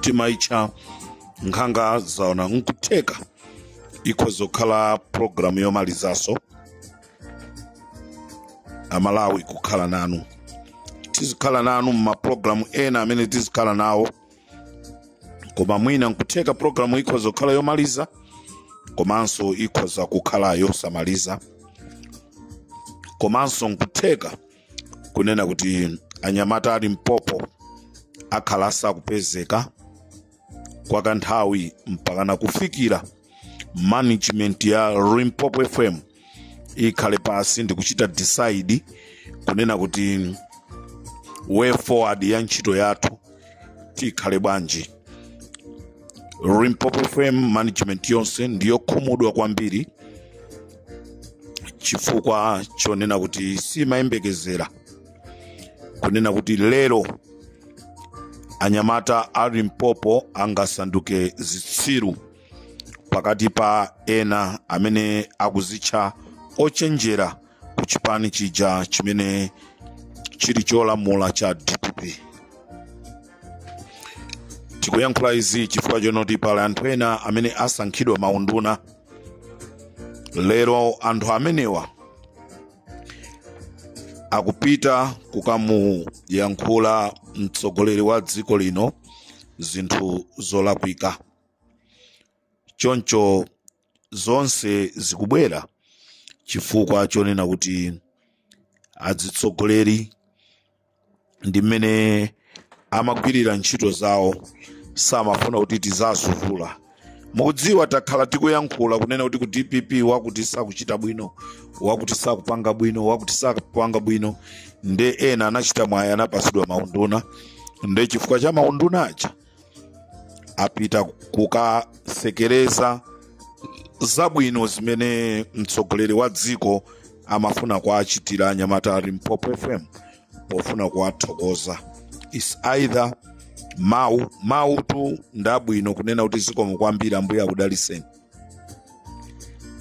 timaitcha nkhanga zaona nkutheka ikhoza kukhala programu yomalizaso amalawi kukhala nanu tizikhala nanu mmaprogramu ena amene tizikhala nawo koma mwina nkutheka programu ikhoza kukhala yomaliza komanso ikhoza kukhala yosamaliza komanso nkutheka kunena kuti anyamata a limpopo akhala asakupezeka kwa kanthawi mpakana kufikira management ya limpopo fm ikhale pasi ndikuchita decide kunena kuti way forward ya ntchito yathu tikhale bwanji limpopo fm management yonse ndiyokhumudwa kwambiri chifukwa chonena kuti simayembekezera kunena kuti lero anyamata a limpopo angasanduke zitsiru pakati pa ena amene akuzitcha ochenjera ku chipani chija chimene chili cholamula cha dpp tikuyankhula izi chifukwa chonoti pali anthu ena amene asankhidwa maunduna lero anthu amenewa akupita kukamuyankhula mtsogoleri wa dziko lino zinthu zolakwika choncho zonse zikubwera chifukwa chonena kuti adzitsogoleri ndi mmene amagwirira ntchito zawo samafuna kuti tizazivula mukudziwa takhala tikuyankhula kunena kuti ku dpp wakuti sakuchita bwino wakuti sakupanga bwino wakuti sakupanga bwino nde ena anachita mwayi anapasidwa maunduna nde chifukwa cha maunduna aja apita kukasekereza zabwino zimene mtsogoleri wa dziko amafuna kuwachitira anyamata a limpopo fm pofuna kuwathokoza is either mawu mawutu ndabwino kunena kuti zikomo kwambiri ambuye akudaliseni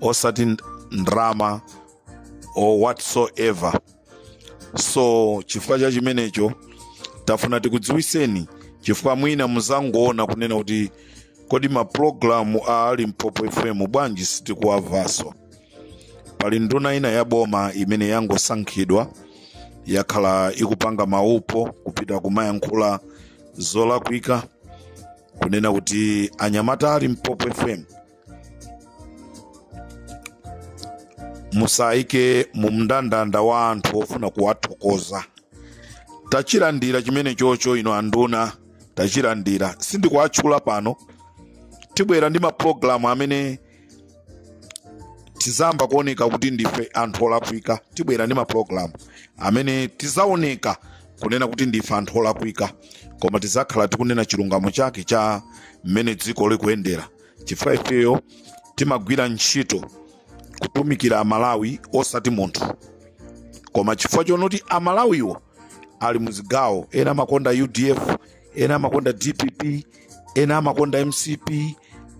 osati ndrama or whatsoever so chifukwa cha chimenecho tafuna tikudziwiseni chifukwa mwina muzangoona kunena kuti kodi maprogramu a limpopo fm bwanji sitikuwavaso pali nduna ina ya boma imene yangosankhidwa yakhala ikupanga maupo kupita kumayankhula zolakwika kunena kuti anyamata a limpopo fm musayike mu mndandanda wa anthu ofuna kuwathokoza tachilandira chimenechocho inu anduna tachilandira sindikuwatchula pano tibwera ndi mapulogalamu amene tizayamba kuoneka kuti ndife anthu olakwika tibwera ndi mapulogalamu amene tizaoneka kunena kuti ndife anthu olakwika koma tizakhala tikunena chilungamo chake cha mmene dziko likuyendera chifukwa ifeyo timagwira ntchito kutumikira amalawi osati munthu koma chifukwa chonoti amalawiwo ali muzigawo ena amakonda udf ena amakonda dpp ena amakonda mcp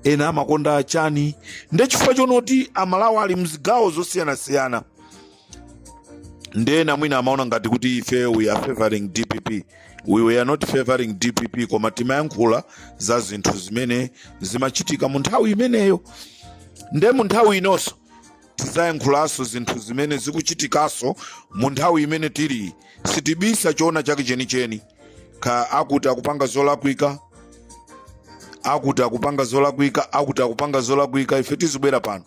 ena amakonda chani nde chifukwa chonoti amalawi ali mzigawo zosiyanasiyana ndena mwina amaona ngati kuti ife we are favoring dpp we are not favoring dpp koma timayankhula za zinthu zimene zimachitika mu nthawi imeneyo nde mu nthawi inonso tizayankhulanso zinthu zimene zikuchitikanso mu nthawi imene tili sitibisa choona chake chenicheni ka akuti akupanga zolakwika akuti akupanga zolakwika akuti akupanga zolakwika ife tizibwera pano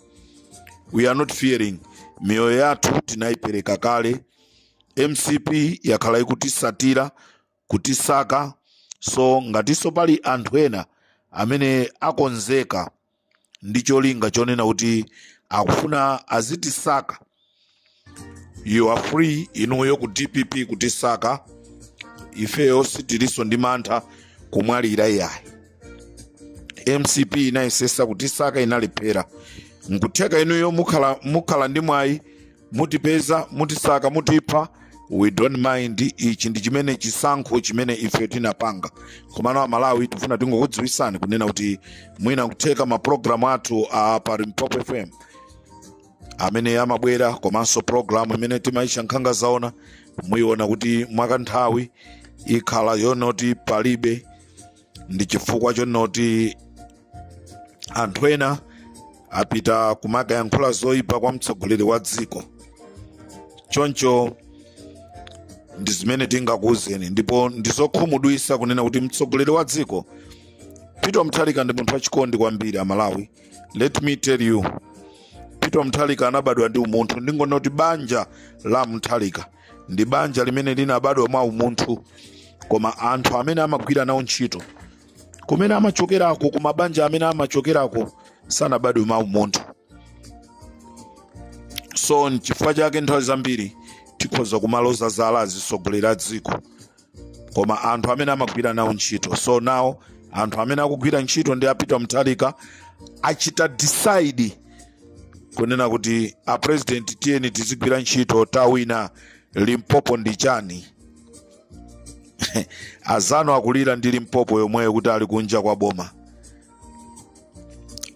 we are not fearing miyoyo yathu tinayipereka kale mcp yakhala ikutisatira kutisakaso ngatinso pali anthu ena amene akonzeka ndi cholinga chonena kuti akufuna azitisaka you are free inuyo ku dpp kutisaka ifeyo sitiliso ndi mantha kumwalira iyayi mcp inayesesa kutisaka inalephera nkutheka inuyo mukhala ndi mwayi mutipeza mutisaka mutipha we don't mind ichi ndi chimene chisankho chimene ife tinapanga komano amalawi tifuna tingokudziwisani kunena kuti mwina kutheka mapulogalamu athu a pa limpopo fm amene amabwera komanso pulogalamu imene timayitcha nkhanga zaona muyiona kuti mwakanthawi ikhala yonoti palibe ndi chifukwa chonoti anthu ena apita kumakayankhula zoyipa kwa mtsogoleri wa dziko choncho ndi zimene tingakuwuzeni ndipo ndizokhumudwisa kunena kuti mtsogoleri wa dziko peter mutharika ndi munthu wachikondi kwambiri amalawi let me tell you peter mthalika anabadwa ndi umunthu ndingonena kuti banja la mthalika ndi banja limene linabadwa mwa umunthu koma anthu amene amagwira nawo ntchito kumene amachokerako ku mabanja amene amachokerako sanabadwe mwa umunthu so nchifukwa chake nthawi zambiri tikhoza kumaloza zala azitsogoleri a dziko koma anthu amene amagwira nawo ntchito so nawo anthu amene akugwira ntchito ndi a peter mutharika achita decide kunena kuti a president tiyeni tizigwira ntchito tawina limpopo ndi chani azanu akulira ndi limpopo yomweyo kuti ali kunja kwa boma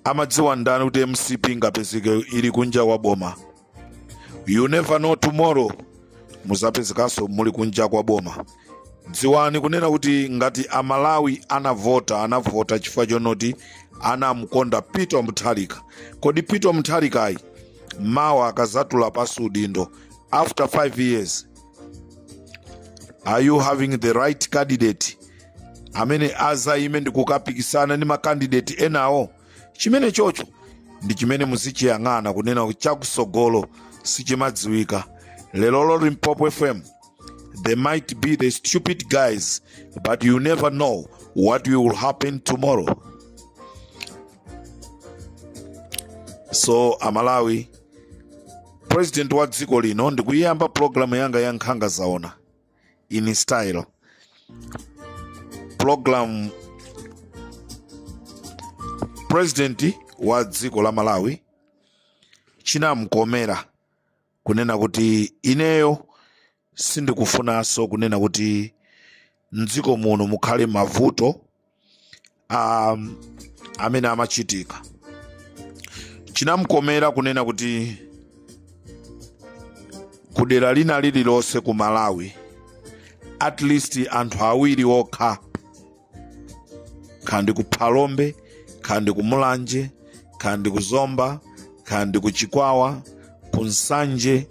amadziwa ndani kuti mcp ingapezeke ili kunja kwa boma you never know tomorrow muzapezekanso muli kunja kwa boma dziwani kunena kuti ngati amalawi anavota anavota chifukwa chonoti anamkonda peter mutharika kodi peter mutharikayi mawa akazatula pansi udindo after 5 years are you having the right candidate amene azayime ndi kukapikisana ndi makandidate enawo chimene chocho ndi chimene muzichiyang'ana kunena kuti chakusogolo sichimadziwika lelolo limpopo fm they might be the stupid guys but you never know what will happen tomorrow so amalawi president wa dziko lino ndikuyiyamba pulogalamu yanga ya nkhanga zaona in style program president wa dziko la malawi chinamkomera kunena kuti ineyo sindikufunanso kunena kuti mdziko muno mukhale mavuto amene amachitika chinamkomera kunena kuti kudera lina lililonse ku malawi at least anthu awiri okha kandi ku phalombe kandi ku mulanje kandi ku zomba kandi ku chikwawa ku nsanje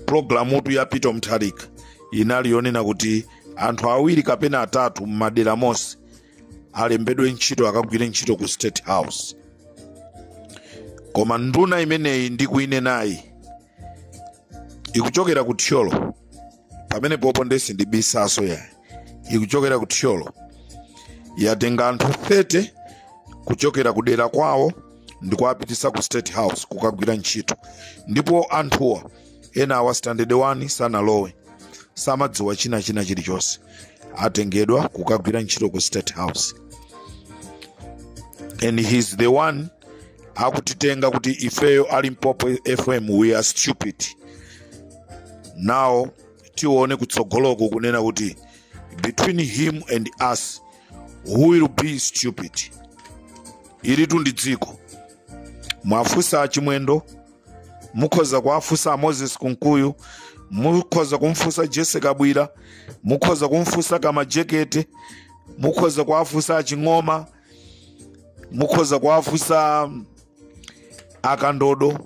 pulogalamutu ya peter mutharika inali yonena kuti anthu awiri kapena atatu m'madera monse alembedwe ntchito akagwire ntchito ku state house koma nduna imeneyi ndikuinenayi ikuchokera ku thyolo pamenepopo ndiye sindibisanso ayi ikuchokera ku thyolo yatenga anthu 30 kuchokera ku dera kwawo ndi kuwapitisa ku state house kukagwira ntchito ndipo anthuwa ena awa standard 1 sanalowe samadziwa china china chilichonse atengedwa kukagwira ntchito ku state house and he's the one akutitenga kuti ifeyo a limpopo fm we are stupid now tione kutsogoloku kunena kuti between him and us who will be stupid ilitu ndi dziko mwafunsa achimwendo mukhoza kuwafunsa moses kunkuyu mukhoza kumfunsa jessie kabwila mukhoza kumfunsa kamlepo kalua mukhoza kuwafunsa aching'oma mukhoza kuwafunsa akandodo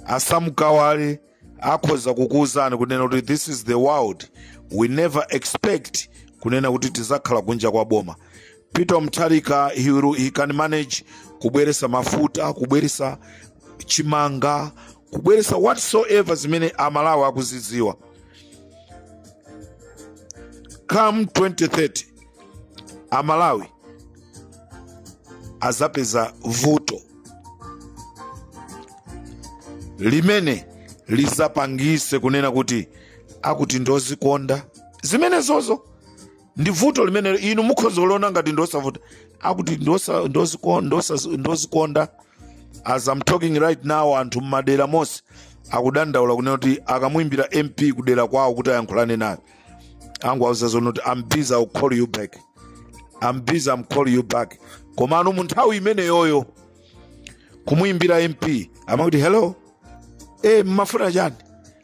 asam kawale akhoza kukuwuzani kunena kuti this is the world we never expect kunena kuti tizakhala kunja kwa boma peter mutharika he, will- he can manage kubweresa mafuta kubweresa chimanga kubweresa whatsoever zimene amalawi akuzidziwa come 2030 amalawi azapeza vuto limene lizapangise kunena kuti akuti ndozikonda zimenezozo ndi vuto limene inu mukhoza kuliona ngati ndosavuta akuti ndozikonda as I'm talking right now anthu mmadera monse akudandaula kunena kuti akamuimbira mp kudera kwawo kuti ayankhulane naye angowauza zoni kuti I'm busy I'll call you back I'm busy am call you back komano mu nthawi imeneyoyo kumuimbira mp amakuti hello e mmafuna chani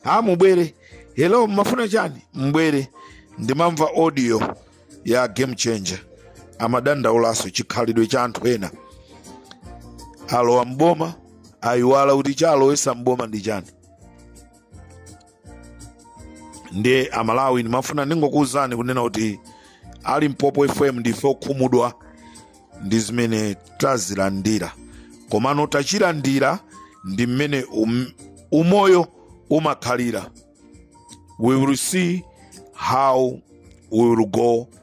a mubwere hello mmafuna chani mbwere ndimamva audio ya game changer amadandaulanso chikhalidwe cha anthu ena alowa mboma ayiwala kuti chalowesa mboma ndi chani ndiye amalawi ndimafuna ndingokuwuzani kunena kuti a limpopo fm ndife okhumudwa ndi zimene tazilandira komano tachilandira ndi mmene um, umoyo umakhalira we will see how we will go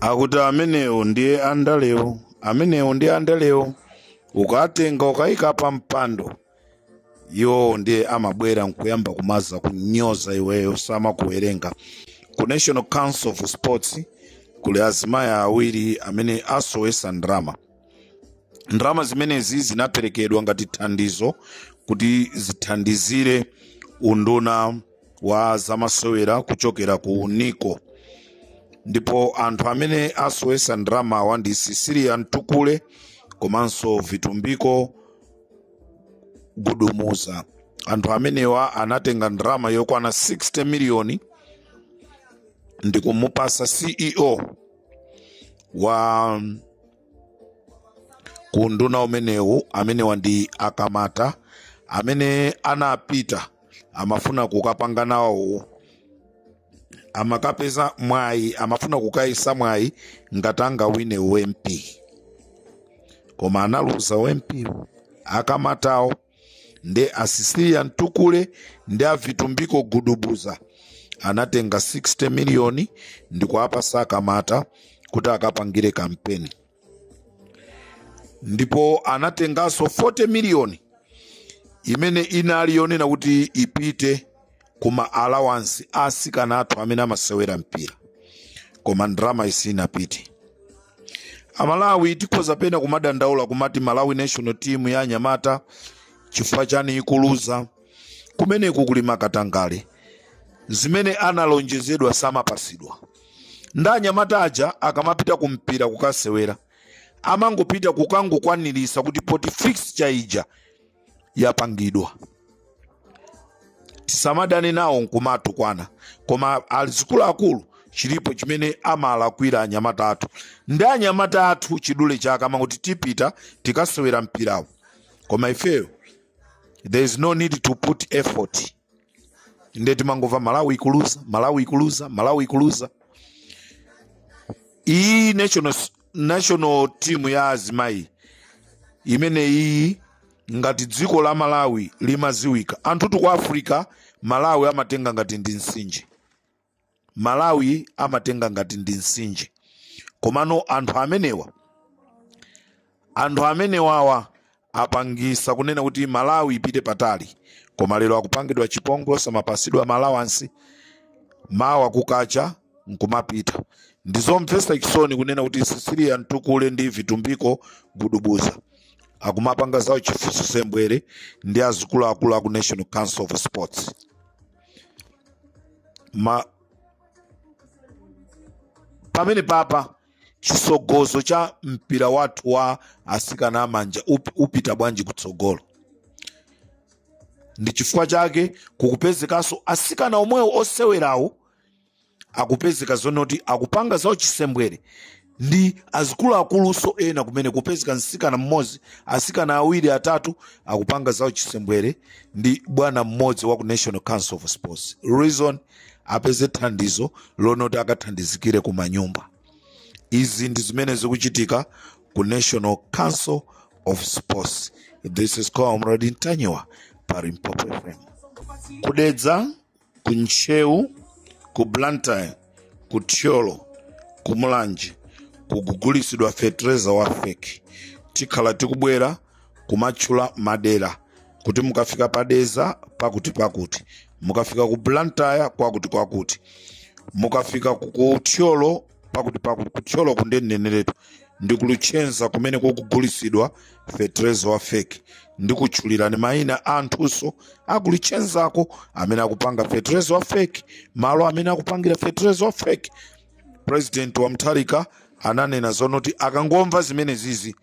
akuti amenewo ndiye andalewo amenewo ndiye andalewo ukatenga ukayika pa mpando iwowo ndiye amabwera nkuyamba kumaza kunyoza iweyo samakuwerenga ku national council of sports kuli azimayi awiri amene asowesa ndalama ndalama zimenezi zinaperekedwa ngati thandizo kuti zithandizire unduna wa zamasewera kuchokera ku nico ndipo anthu amene asowesa ndalamawa ndi cecilia mtukule komanso vitumbiko gudumuza anthu amenewa anatenga ndalama yokwana 60 miliyoni ndi kumupasa ceo wa kunduna umenewu amenewa ndi akamata amene anapita amafuna kukapanga nawo amakapeza mwayi amafuna kukayisa mwayi ngati angawine u MP koma analuza u MP akamatawo nde asisilia mtukule ndi avitumbiko gudubuza anatenga 60 miliyoni ndikuapasa akamata kuti akapangire kampeni ndipo anatenganso 40 miliyoni imene inali yonena kuti ipite kuma allowance a asikana athu amene amasewera mpira koma ndalama sinapite amalawi tikhoza pena kumadandaula kumati malawi national team ya anyamata chifukwa chani ikuluza kumeneku kuli makatangale zimene analonjezedwa samapasidwa ndi anyamata aja akamapita kumpira kukasewera amangopita kukangokwanirisa kuti poti fixture ija yapangidwa tisamadane nawo nkumatukwana koma azikuluakulu chilipo chimene amalakwira anyamata athu ndi anyamata athu chidule chake amangoti tipita tikasewera mpirawo koma ifeyo there is no need to put effort nde timangova malawi ikuluza malawi ikuluza malawi ikuluza iyi national, national team ya azimayi imene iyi ngati dziko la malawi limaziwika anthutu ku africa malawi amatenga ngati ndi mtsinje malawi amatenga ngati ndi mtsinje komano anthu amenewa anthu amenewawa apangisa kunena kuti malawi ipite patali koma lero akupangidwa chipongwe samapasidwa ma allowance mawa kukacha nkumapita ndizomvesa chisoni kunena kuti sisiliya mtukule ndi vitumbiko gudubuza akumapanga za uchi- uchisembwere ndi azikuluakulu aku national council of sports pamene papa chitsogozo cha mpira wathu wa asikana amanja up- upita bwanji kutsogolo ndi chifukwa chake kukupezekanso asikana omwewo osewerawo akupezeka zonoti akupanga za uchisembwere ndi azikuluakuluso ena kumene kupezeka msikana mmodzi asikana awiri atatu akupanga za uchisembwere ndi bwana mmodzi wa ku national council of sports reason apeze thandizo lonoti akathandizikire ku manyumba izi ndi zimene zikuchitika ku national council of sports this is comrade ntanyiwa pa limpopo fm kudedza ku ntcheu ku blantyre ku thyolo ku mulanje kugugulisidwa fetereza wa feki tikhala tikubwera kumatchula madera kuti mukafika pa dedza pakuti pakuti mukafika ku blantyre kwakuti kwakuti mukafika ku thyolo pakuti pakuti kuthyolo ko ndineneretu ndi ku luchenza kumene kukugulisidwa fetereza wa feki ndikutchulirani mayina a anthunso aku luchenzako amene akupanga fetereza wa feki malo amene akupangira fetereza wa feki president wa mutharika ananena zonoti akangomva zimenezizi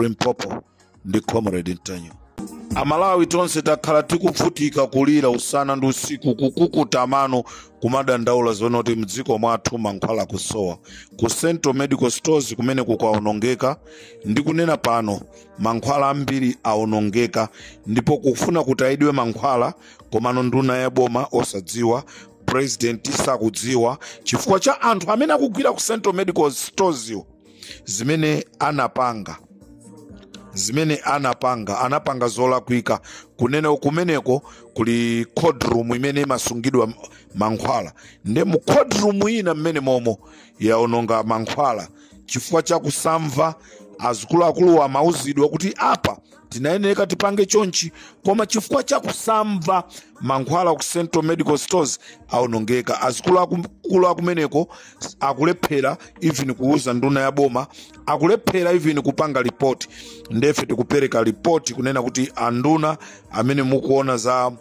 limpopo ndi comrade ntanyiwa amalawi tonse takhala tikuvutika kulira usana ndi usiku kukukuta mano kumadandaula zonena kuti mdziko mwathu mankhwala akusowa ku central medical stores kumene kukaonongeka ndikunena pano mankhwala ambiri aonongeka ndipo akufuna kuti atayidwe mankhwala komano nduna ya boma osadziwa president sakudziwa chifukwa cha anthu amene akugwira ku central medical stores yo zimene anapanga zimene anapanga anapanga zolakwika kunena kumeneko kuli cold room imene imasungidwa m- mankhwala nde mu cold room ina mmenemomo yaononga mankhwala chifukwa cha kusamva azikuluakulu amauzidwa kuti apa tinayeneka tipange chonchi koma chifukwa cha kusamva mankhwala ku central medical stores aonongeka azikulu akulu akumeneko akulephera even kuuza nduna ya boma akulephera even kupanga ripoti ndefe tikupereka ripoti kunena kuti anduna amene mukuona za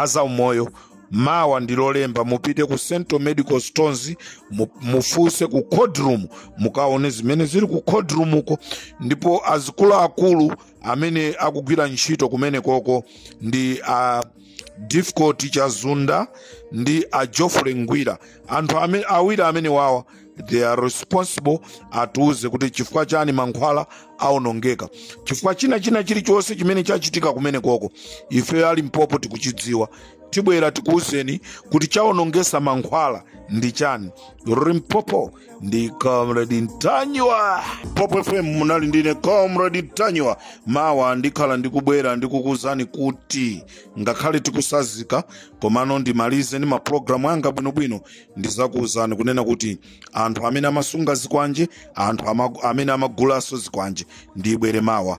zaumoyo mawa ndi lolemba mupite ku central medical stores mu- mufunse ku cold room mukaone zimene zili ku cold room uko ndipo azikuluakulu amene akugwira ntchito kumenekoko ndi a difficult chazunda ndi a geoffrey ngwira anthu amene, awiri amenewawa they are responsible atiuze kuti chifukwa chani mankhwala aonongeka chifukwa china china chilichonse chimene chachitika kumenekoko ife a limpopo tikuchidziwa tibwera tikuuzeni kuti chaonongesa mankhwala ndi chani limpopo ndi comrade ntanyiwa popo fm munali ndine comrade ntanyiwa mawa ndikhala ndikubwera ndikukuuzani kuti ngakhale tikusazika komano ndimalize ndi maprogramu anga bwinobwino ndizakuwuzani kunena kuti anthu amene amasunga zikwanje anthu ama, amene amagulanso zikwanje ndibwere mawa